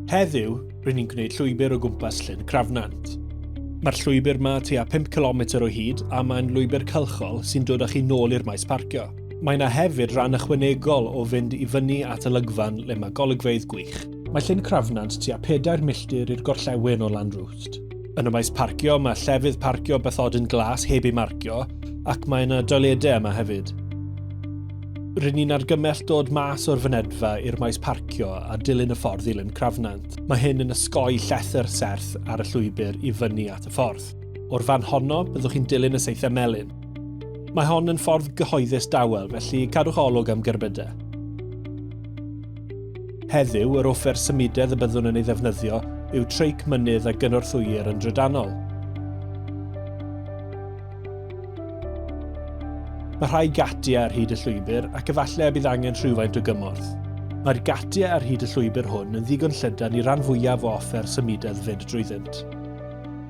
Heddiw, rydyn ni'n gwneud llwybr o gwmpas Llyn Crafnant. Mae'r llwybr yma tua 5 km o hyd a mae'n lwybr cylchol sy'n dod â chi nôl i'r maes parcio. Mae yna hefyd ran ychwanegol o fynd i fyny at y lygfan le mae golygfeydd gwych. Mae Llyn Crafnant tua 4 milltir i'r gorllewin o Lanrwst. Yn y maes parcio, mae llefydd parcio bathodyn glas heb ei marcio, ac mae yna doiledau yma hefyd. Rydyn ni'n argymell dod mas o'r fynedfa i'r maes parcio a dilyn y ffordd i Lyn Crafnant. Mae hyn yn ysgoi llethr serth ar y llwybr i fyny at y ffordd. O'r fan honno, byddwch chi'n dilyn y seithau melyn. Mae hon yn ffordd gyhoeddus dawel, felly cadwch olwg am gerbydau. Heddiw, yr offer symudedd y byddwn yn ei ddefnyddio yw treic mynydd a gynorthwyir yn drydanol. Mae rhai gatiau ar hyd y llwybr ac efallai y bydd angen rhywfaint o gymorth. Mae'r gatiau ar hyd y llwybr hwn yn ddigon llydan i ran fwyaf o offer symudedd fyd drwyddynt.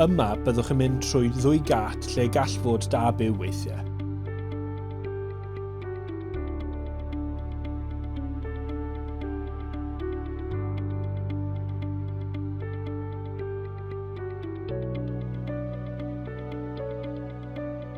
Yma, byddwch yn mynd trwy ddwy gât lle gall fod da byw weithiau.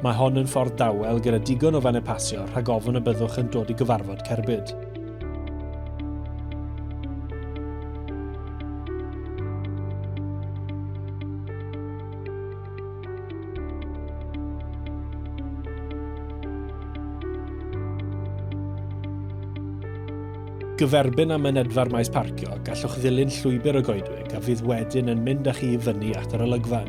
Mae hon yn ffordd dawel gyda digon o fannau pasio rhag ofn y byddwch yn dod i gyfarfod cerbyd. gyferbyn â mynedfa'r maes parcio, gallwch ddilyn llwybr y goedwig a fydd wedyn yn mynd â chi i fyny at yr olygfan.